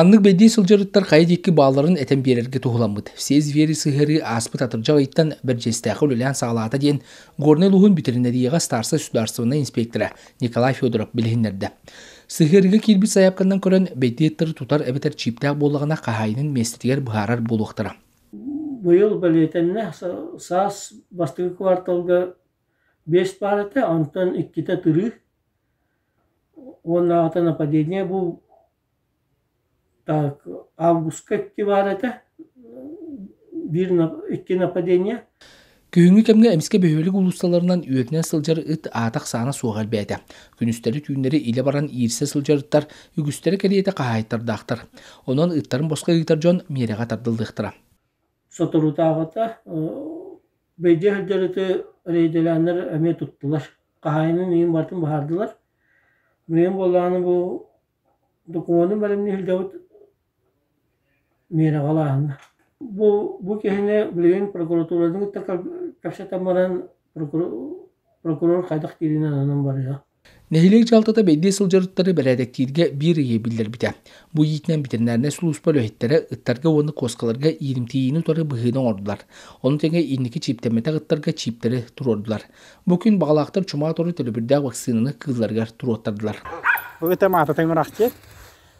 Маннык бэйдии сылдьарыттар хайа диэки баалларын этэн биэрэргэ туһуламмыт. Все звери сыһыарыы ааспыт атырдьах ыйтан Бэрдьиэстээхи үлэлээн саҕалаата диэн Горнай улууһун бүтэринэрийэҕэ старса судаарыстыбаннай инспектора Николай Федоров билиһиннэрдэ. Сыһыарыыга киирбит заявканан көрөн, бэйдии ыттары тутар эбэтэр чиэптээх буоллаҕына хаһаайынын миэстэтигэр быһаарар буолуохтара. Быйыл бэлиэтэннэ саас бастакы кварталга биэс паар этэ, онтон иккитэ тырыы. Уоннааҕыта нападение бу так августка икки баар этэ биир икки нападение Күһүҥҥү кэмҥэ эмискэ бөһүөлэк уулуссаларынан үөтүнэн сылдьар ыт аатах-саана суоҕа элбээтэ. Күнүстэри-түүннэри илэ баран иирсэ сылдьар ыттар үгүстэрэ кэриэтэ хаһаайыттардаахтар. Онон ыттарын босхо ыытар дьон миэрэҕэ тардыллыахтара. Соторутааҕыта Бэйдиэ сылдьар ити рейдэлээннэр эмиэ туттулар. Хаһаайынын ийин барытын быһаардылар. Билигин буоллаҕына бу докумуону бэлэмнии сылдьабыт миэрэҕэлааһына. Бу бу киһини билигин прокуратуратын кытта кэпсэтэн баран прокурор хайдах дииринэн онон барыа. Нэһилиэк дьаһалтата бэйдиэ сылдьарыттары бэрээдэктииргэ биир ыйы биллэрбитэ. Бу иитинэн ветеринарнай сулууспа үлэһиттэрэ ыттарга уонна куоскаларга ииримтийиини утары быһыыны оҥордулар. Ону тэҥэ инники чиэптэммэтэх ыттарга чииптэри туруордулар. Бу күн баҕалаахтар чума тору төлөбүрдээх вакцинаны кыылларыгар туруоттардылар. Bu ыта maatata mıraqçı.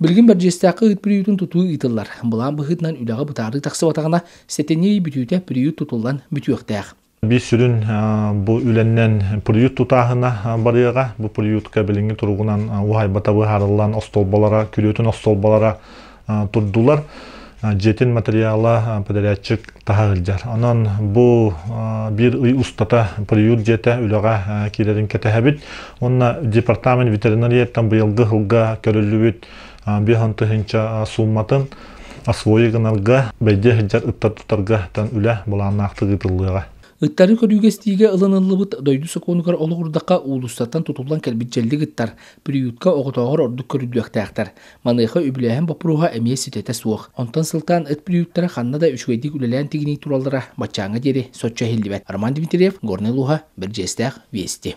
Билигин Бэрдьиэстээххэ ыыт приютун тутуу ыытыллар. Былаан быһыытынан үлэҕэ бытаарыы тахсыбатаҕына, сэтинньи бүтүүтэ приют тутуллан бүтүөхтээх. Биир сүрүн бу үлэннэн приют тутааһына барыаҕа. Бу приютка билиҥҥи туругунан уһайбата быһаарыллан остуолбалара, күрүөтүн остуолбалара турдулар. дьиэтин материала подаряатчык таһа ыалдьар. Онон бу биир ый устата приют дьиэтэ үлэҕэ киирэрин кэтэһэбит. Уонна департамент ветеринарияттан быйылгы сылга көрүллүбүт биир он тыһыынча суумматын освои гынарга, бэйде сылдьар ыттар тутарга үлэ былааннаахтык ыытыллыаҕа. Ыттары көрүүгэстиигэ ылыныллыбыт дойду сокуонугар олоҕурдахха уулуссаттан тутуллан кэлбит дьэллик ыттар приютка оҕотооҕор ордук көрүдүөхтээхтэр. Маныаха үбүлээһин боппуруоһа эмиэ ситэтэ суох. Онтон сылтаан ыт приюттара ханна да үчүгэйдик үлэлээн тигинии тураллара баччааҥҥа диэри соччо иһиллибэт. Роман Дмитриев, Горнай улууһа, Бэрдьиэстээх, Вести.